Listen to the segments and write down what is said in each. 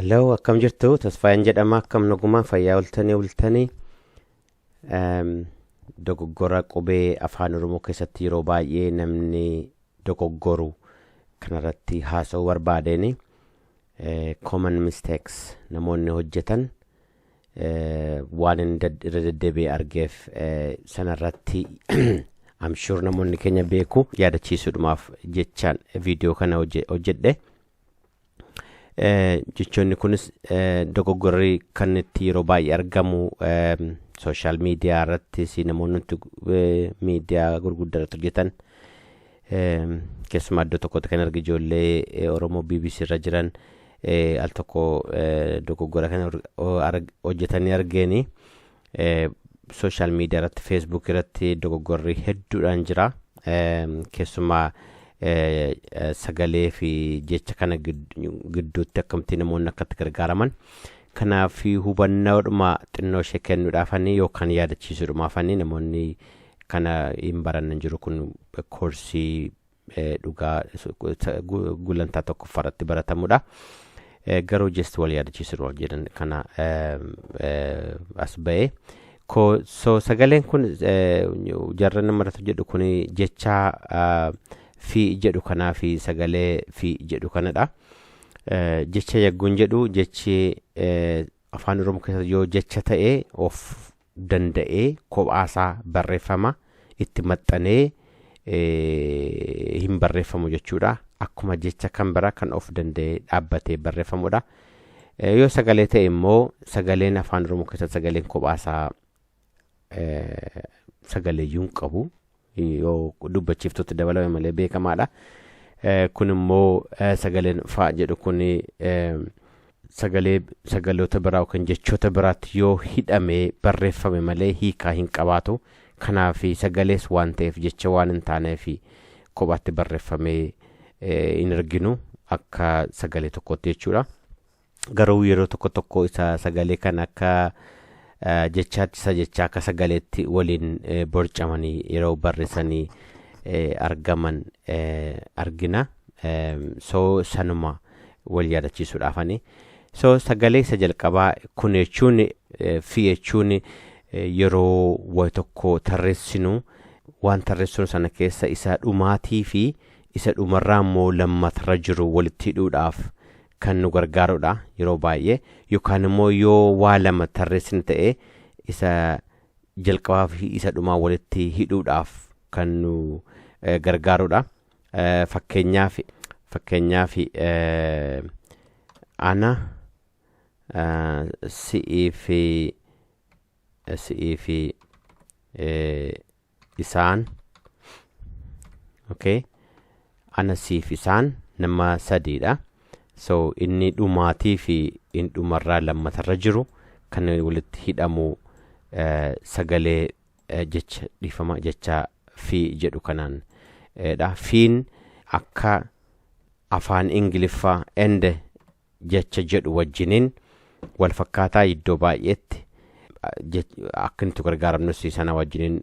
Hello, akkam jirtu? Tasfaayeen jedhama. Akkam nagumaa fayyaa oltanii oltanii. Ehm, Dogoggora qubee afaan Oromoo keessatti yeroo baay'ee namni dogoggoru kanarratti haasa'uu barbaadeen eh, common mistakes namoonni hojjetan waan irra deddeebi'ee argeef sanarratti amshuur namoonni keenya beeku yaadachiisuudhumaaf jechaan viidiyoo kana hojjedhe. Jechoonni kunis dogoggorri kan itti yeroo baay'ee argamu sooshaal miidiyaa irrattis namoonni miidiyaa gurguddaa irratti hojjetan Keessumaa iddoo tokkotti kan arge ijoollee Oromoo BBC irra jiran al tokko dogoggora kana hojjetanii argeeni. Sooshaal miidiyaa irratti feesbuuk irratti dogoggorri hedduudhaan jira. Keessumaa sagalee fi jecha kana gidduutti akkamittiin namoonni akkatti gargaaraman. Kanaaf hubannoodhuma xinnoo ishee kennuudhaafanii yookaan yaadachiisuudhumaafanii namoonni Kana hin baranne hin jiru kun koorsii dhugaa gulantaa tokkoffaa irratti baratamudha. Garuu just wal yaadachiisuun wal jedhan kana as ba'e. So sagaleen kun jarra nama irratti jedhu kun jecha fi jedhu kanaa fi sagalee fi jedhu kanadha. Jecha yagguun jedhu jechi afaan oromoo keessatti yoo jecha ta'e of danda'ee kophaasaa barreeffama itti maxxanee hin barreeffamu jechuudha. Akkuma jecha kan bira kan of danda'ee dhaabbatee barreeffamudha. Yoo sagalee ta'e immoo sagaleen afaan Oromoo keessatti sagaleen kophaasaa sagaleeyyuu hin qabu. yoo dubbachiiftutti dabalame malee beekamaadha. Kun immoo sagaleen faa jedhu kun sagalee sagaloota biraa yookiin jechoota biraatti yoo hidhamee barreeffame malee hiikaa hin qabaatu. Kanaaf sagalees waan ta'eef jecha waan hin taaneef kophaatti barreeffamee hin arginu akka sagalee tokkootti jechuudha. Garuu yeroo tokko tokko isa sagalee kan akka jechaatti isa jechaa akka sagaleetti waliin borcamanii yeroo barreessanii argaman argina. So sanuma wal yaadachiisuudhaafani. So sagalee isa jalqabaa kun jechuun fi jechuun yeroo wayi tokko tarreessinu waan tarreessinu sana keessa isa dhumaatii fi isa dhumarraa immoo lammatarra jiru walitti hidhuudhaaf kan nu gargaarudha yeroo baay'ee yookaan immoo yoo waa lama tarreessina ta'e isa jalqabaa fi isa dhumaa walitti hidhuudhaaf kan nu eh, gargaarudha. Eh, Fakkeenyaaf fakkeenyaaf eh, ana eh, si'ii fi si'ii fi eh, isaan okay ana siif isaan nama sadiidha so inni dhumaatii fi inni dhumarraa lammatarra jiru kan walitti hidhamu eh, sagalee eh, jecha dhiifama jecha fi jedhu kanaan eh, dha fiin akka afaan ingiliffaa ende jecha jedhu wajjiniin wal fakkaataa iddoo baay'eetti akka nuti gargaaramnus sana wajjiniin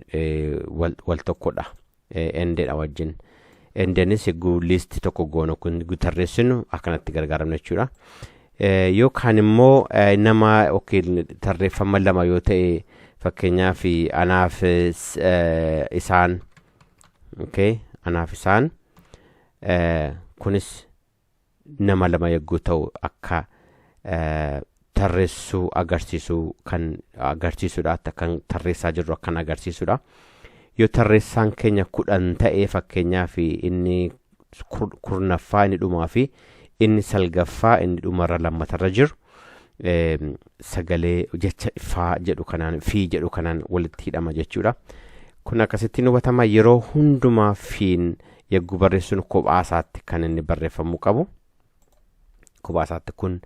wal tokkodha endedha wajjin endenis egguu liisti tokko goonu kun tarreessinu akkanatti gargaaramna jechuudha yookaan immoo nama yookiin tarreeffama lama yoo ta'e fakkeenyaaf anaaf isaan okay anaaf isaan kunis nama lama yogguu ta'u akka eh, tarreessuu agarsiisuu kan agarsiisudha akka kan tarreessaa jirru akkan agarsiisudha yoo tarreessaan keenya kudhan ta'ee fakkeenyaa fi inni kur- kurnaffaa inni dhumaa fi inni salgaffaa inni dhumarra lammatarra jiru eh, sagalee jecha faa jedhu kanaan fi jedhu kanaan walitti hidhama jechuudha. Kun akkasittiin hubatama yeroo hundumaa fiin yagguu barreessuun kophaa isaatti kan inni barreeffamuu qabu. Kophaa isaatti kun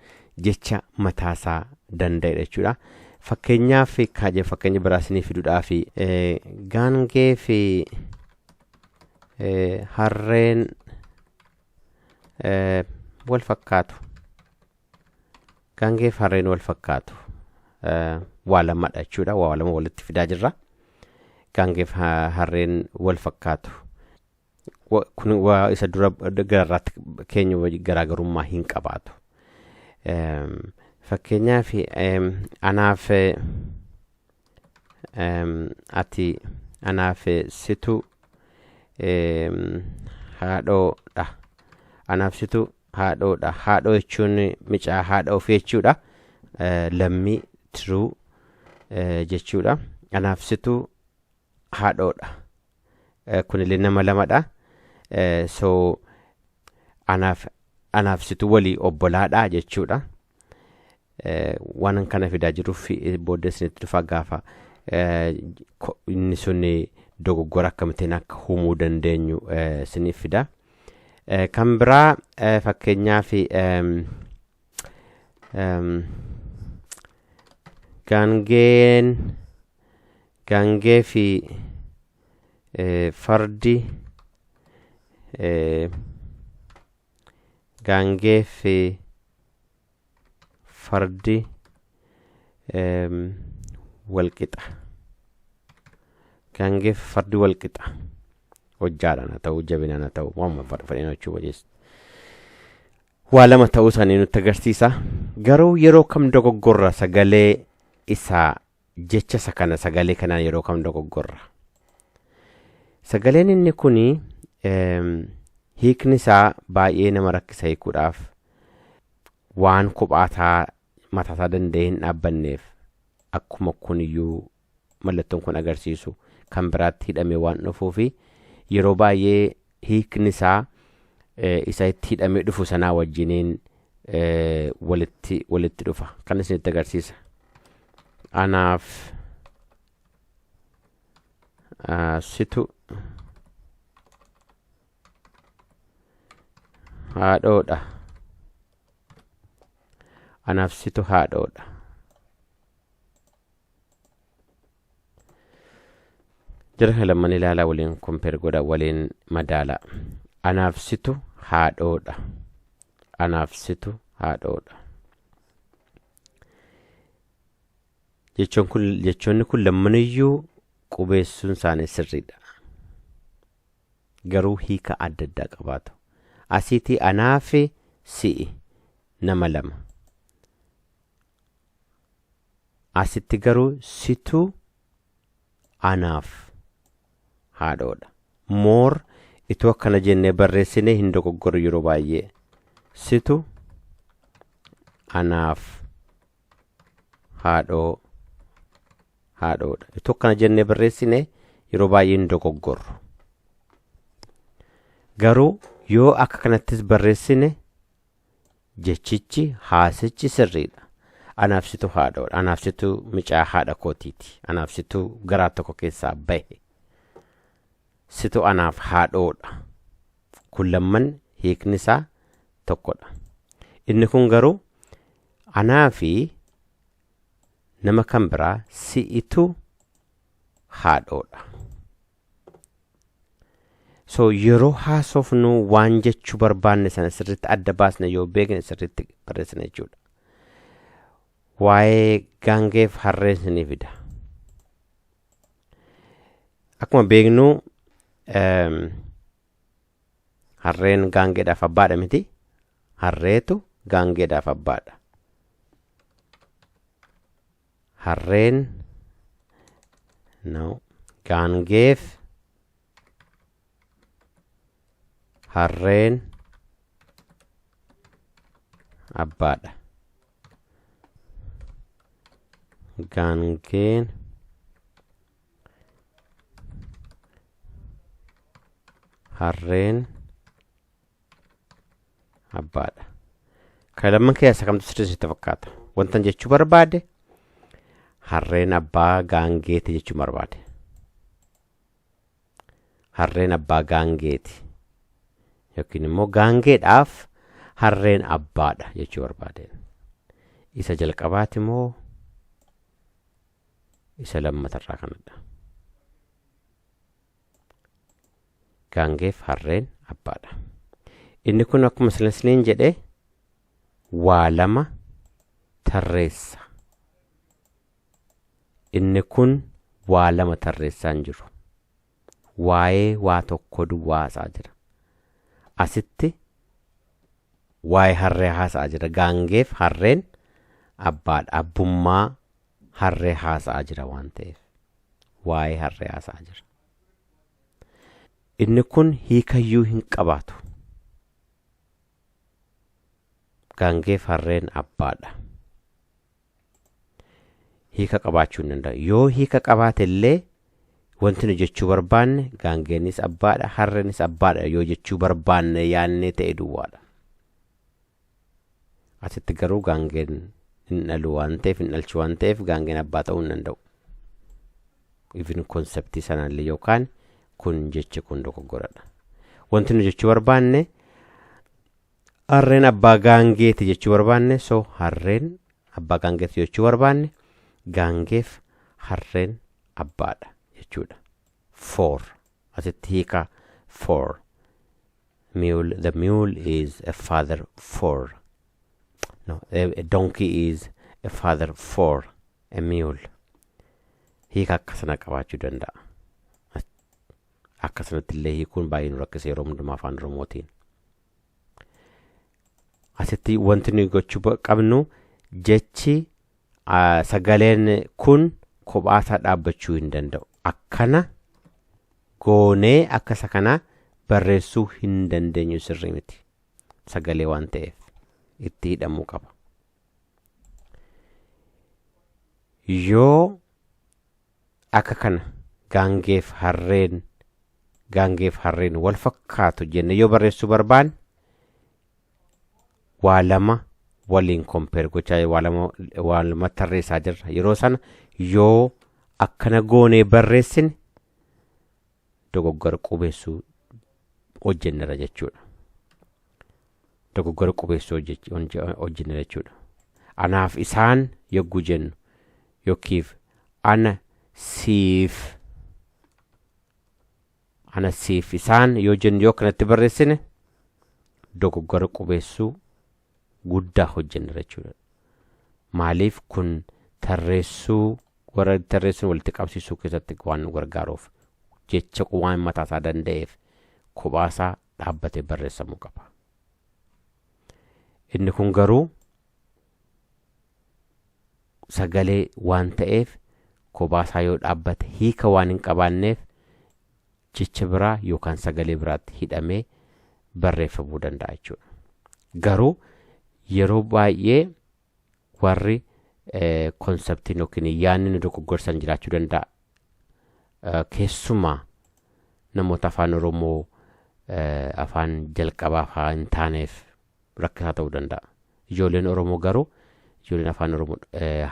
jecha mataasaa danda'edha jechuudha. Fakkeenyaaf kaajee fakkeenya biraa isinii fiduudhaaf eh, gaangee fi eh, harreen eh, wal fakkaatu. Gaangeef harreen wal fakkaatu. Eh, Waa lamadha jechuudha. Waa lama walitti fidaa jirra. Gaangeef ha- harreen wal fakkaatu. Wa- Kun waa isa dura gararraatti keenya wajji garaagarummaa hin qabaatu. Em, Fakkeenyaaf em, anaaf eh, em, ati anaaf eh, situ em, haadhoodha. Anaaf situ haadhoodha haadhoo jechuun micaa haadha ofii jechuudha Eh, lammii tiruu eh, jechuudha anaaf situ haadhoodha Eh, kunillee nama lamadha Eh, so anaaf anaaf situ walii obbolaadha jechuudha Waanan kana fidaa jiruuf booddee isinitti dhufaa gaafa inni sun dogoggora akkamittiin akka uumuu dandeenyu isiniif fida. Kan biraa fakkeenyaaf gaangeen gaangee fi fardi gaangee fi fardi walqixa gaangeef fardi walqixa hojjaadhaan haa ta'u jabinaan haa ta'u waamuma fedheen hojjechuu waliis waa lama ta'uu isaanii nutti agarsiisa garuu yeroo kam dogoggorra sagalee isaa jecha isa kana sagalee kanaan yeroo kam dogoggorra. Sagaleen inni kun hiikni isaa baay'ee nama rakkisa hiikuudhaaf waan kophaataa mataasaa danda'ee hin dhaabbanneef akkuma kun iyyuu mallattoon kun agarsiisu kan biraatti hidhamee waan dhufuu fi yeroo baay'ee hiikni isaa isa itti hidhamee dhufu sanaa wajjiniin walitti walitti dhufa kan isinitti agarsiisa anaaf situ haadhoodha anaaf situ haadhoodha jara kana lamman ilaalaa waliin kompeer godha waliin madaala anaaf situ haadhoodha anaaf situ haadhoodha jechoon kun jechoonni kun lammaniyyuu qubeessuun isaanii sirriidha garuu hiika adda addaa qabaatu asiitii anaafi si'i nama lama Asitti garuu situ anaaf haadhoodha. Moor ituu akkana jennee barreessine hin dogoggorru yeroo baay'ee. Situ anaaf haadhoo haadhoodha. Ituu akkana jennee barreessine yeroo baay'ee hin dogoggorru. Garuu yoo akka kanattis barreessine Jechichi, haasichi sirriidha. Anaaf situ haadhoodha. Anaaf situ micaa haadha kootiiti. Anaaf situ garaa tokko keessaa bahe. Situ anaaf haadhoodha. Kun lamman hiikni isaa tokkodha. Inni kun garuu anaa fi nama kan biraa si'itu haadhoodha. so yeroo haasofnu waan jechuu barbaanne sana sirriitti adda baasne yoo beekne sirriitti barreessina jechuudha. Waa'ee gaangeef harree isinii fida. Akkuma beeknu eem, harreen gaangeedhaaf abbaadha miti. Harreetu gaangeedhaaf abbaadha. harreen no gaangeef harreen abbaadha gaangeen harreen abbaadha ka lamman keessa kamtu sirrii sitti fakkaata wantan jechuu barbaade harreen abbaa gaangeeti jechuu barbaade harreen abbaa gaangeeti yookiin immoo gaangeedhaaf harreen abbaadha jechuu barbaade isa jalqabaati moo isa lammatarraa kanadha gaangeef harreen abbaadha inni kun akkuma silasniin jedhe waa lama tarreessa inni kun waa lama tarreessaa hin jiru waa'ee waa tokko duwwaa haasa'aa jira asitti waa'ee harree haasa'aa jira gaangeef harreen abbaadha abbummaa harree haasa'aa jira waan ta'eef waa'ee harree haasa'aa jira. Inni kun hiikayyuu hin qabaatu. Gaangeef harreen abbaadha. Hiika qabaachuu hin danda'u. Yoo hiika qabaate illee wanti nu jechuu barbaanne gaangeenis abbaadha harreenis abbaadha yoo jechuu barbaanne yaannee ta'e duwwaadha. Asitti garuu gaangeen hin dhalu waan ta'eef hin dhalchu waan ta'eef gaangeen abbaa ta'uu hin danda'u. Even konseptii sanaallee yookaan kun jechi kun dogoggoradha. Wanti nu jechuu barbaanne harreen abbaa gaangeeti jechuu barbaanne so harreen abbaa gaangeeti jechuu barbaanne gaangeef harreen abbaadha jechuudha. for asitti hiika for mule the mule is a father for no a, a donkey is a father for a mule hiika akkasana qabaachuu danda'a akkasanatti illee hiikuun baay'ee nu rakkisa yeroo hundumaa afaan oromootiin asitti wanti nuyi gochuu ba- qabnu jechi Ah, sagaleen kun kophaasaa dhaabbachuu hin danda'u akkana goonee akka isa kanaa barreessuu hin dandeenyu sirrii miti sagalee waan ta'eef itti hidhamuu qaba yoo akka kana gaangeef harreen gaangeef harreen wal fakkaatu jenne yoo barreessuu barbaanne waa lama waliin kompeer gochaa waa lama waa lama tarreessaa jirra yeroo sana yoo akkana goonee barreessine dogoggora qubeessuu hojjennera jechuudha dogoggora qubeessuu hojjech- hojje- hojjennera jechuudha anaaf isaan yogguu jennu yookiif ana siif Ana siif isaan yoo jennu yoo kanatti barreessine dogoggora qubeessuu guddaa hojjennera jechuudha. Maaliif kun tarreessuu warra tarreessuun walitti qabsiisuu keessatti waan nu gargaaruuf jecha waan mataasaa danda'eef kophaasaa dhaabbatee barreessamuu qaba. Inni kun garuu sagalee waan ta'eef kobaasaa yoo dhaabbate hiika waan hin qabaanneef jecha biraa yookaan sagalee biraatti hidhamee barreeffamuu danda'a jechuudha. Garuu yeroo baay'ee warri konseptiin yookiin yaadni nu dogoggorsan jiraachuu danda'a. Keessumaa namoota afaan Oromoo afaan jalqabaa fa'aa hin taaneef rakkisaa ta'uu danda'a. Ijoolleen Oromoo garuu ijoolleen afaan Oromoo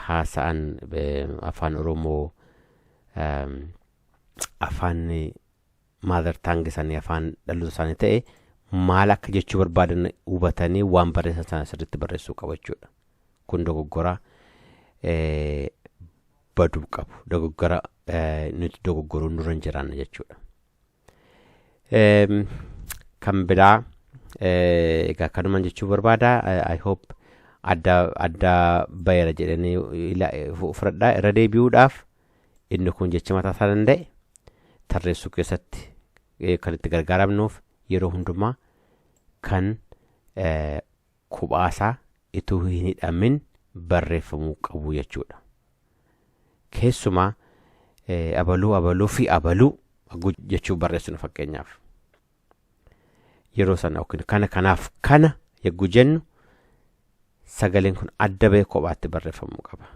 haasa'an afaan Oromoo afaan maadar taangi isaanii afaan dhaloota isaanii ta'e maal akka jechuu barbaadan hubatanii waan barreessan sana sirriitti barreessuu qabu jechuudha. Kun dogoggora baduu qabu. Dogoggora nuti dogoggoruun nurra hin jiraanne jechuudha. Eem, kan biraa eh, egaa kanuman jechuu barbaada Eh, i hope adda adda bayera jedhanii ila- eh, fu- fudhadhaa irra deebi'uudhaaf inni kun jecha mataa isaa danda'e tarreessuu keessatti eh, kan itti gargaaramnuuf yeroo hundumaa kan eh, kophaasaa ituu hin hidhamin barreeffamuu qabu jechuudha. Keessumaa eh, abaluu abaluu fi abaluu agguu jechuu barreessinu fakkeenyaaf. Yeroo sana yookiin kana kanaaf kana yagguu jennu sagaleen kun adda ba'ee kophaatti barreeffamuu qaba.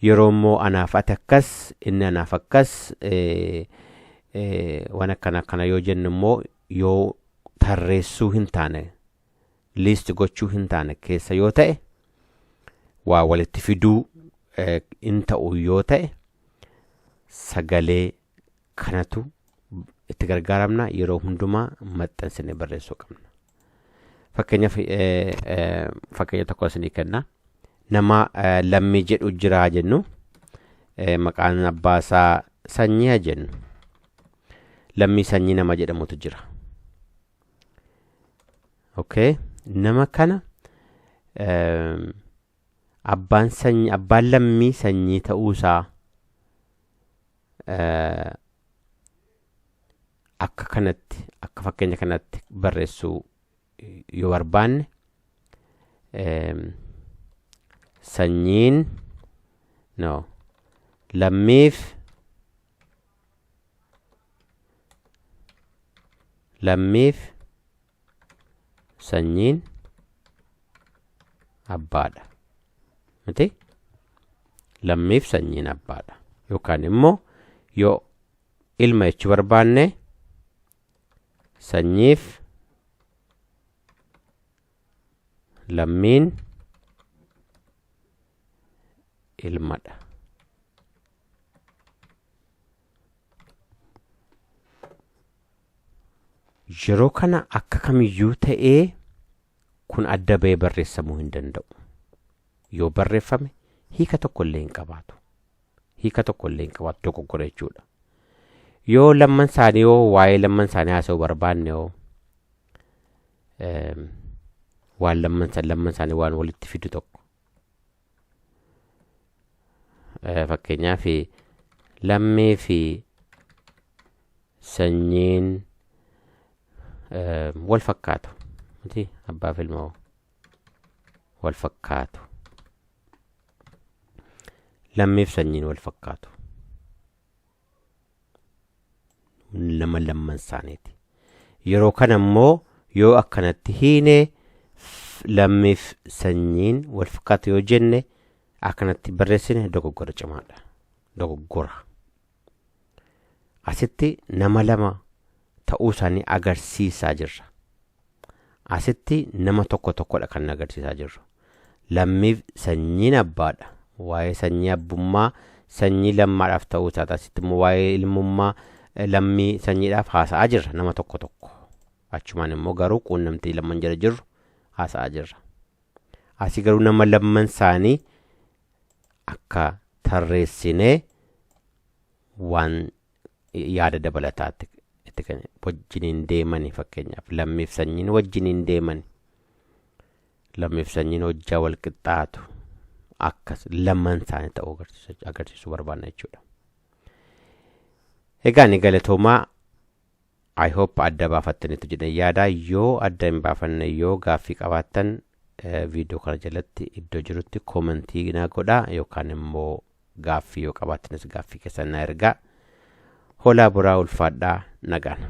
yeroo immoo anaaf ati akkas inni anaaf akkas eh, eh, waan akkana akkana yoo jennu immoo yoo tarreessuu hin taane liist gochuu hin taane keessa yoo ta'e waa walitti fiduu eh, hin ta'u yoo ta'e sagalee kanatu itti gargaaramna yeroo hundumaa maxxansine barreessuu qabna. Fakkeenyaaf fakkeenya tokko isinii kenna. Nama lammii jedhu jiraa jennu maqaan abbaa isaa sanyii jennu. Lammii sanyii nama jedhamutu jira. Okay. Nama kana abbaan sanyii abbaan lammii sanyii ta'uusaa akka kanatti akka fakkeenya kanatti barreessuu yoo barbaanne sanyiin no lammiif lammiif sanyiin abbaadha miti lammiif sanyiin abbaadha yookaan immoo yoo ilma jechuu barbaanne sanyiif lammiin ilmadha Yeroo kana akka kamiyyuu ta'ee kun adda ba'ee barreessamuu hin danda'u. Yoo barreeffame hiika tokko illee hin qabaatu. Hiika tokko illee hin qabaatu dogoggora jechuudha. Yoo lamman isaanii hoo waa'ee lamman isaanii haasa'uu barbaanne hoo eem, waan lamman isa- lamman isaanii waan walitti fidu tokko fakkeenyaaf lammii fi sanyiin wal fakkaatu miti abbaa fi ilmoo wal fakkaatu lammiif sanyiin wal fakkaatu nama lamman isaaniiti yeroo kana immoo yoo akkanatti hiine f- lammiif sanyiin wal fakkaatu yoo jenne akkanatti barreessine dogoggora cimaadha dogoggora asitti nama lama ta'uu isaanii agarsiisaa jirra. Asitti nama tokko tokkodha kan agarsiisaa jirru. Lammiif sanyiin abbaadha. Waa'ee sanyii abbummaa sanyii lammaadhaaf ta'uu isaati. Asitti immoo waa'ee ilmummaa lammii sanyiidhaaf haasa'aa jirra nama tokko tokko. Achumaan immoo garuu quunnamtii lamman jala jirru haasa'aa jirra. Asii garuu nama lamman isaanii akka tarreessinee waan yaada dabalataatti itti kan wajjiniin deemani fakkeenyaaf lammiif sanyiin wajjiniin deemani lammiif sanyiin hojjaa wal qixxaatu akkas lamman isaanii ta'uu agarsiisu- agarsiisuu barbaanna jechuudha. Egaa ni galatoomaa I hope adda baafattanitu jedhee yaada yoo adda hin baafanne yoo gaaffii qabaattan viidiyoo kana jalatti iddoo jirutti koomentii naa godha yookaan immoo gaaffii yoo qabaattanis gaaffii keessan naa ergaa holaa buraa ulfaadhaa nagaan.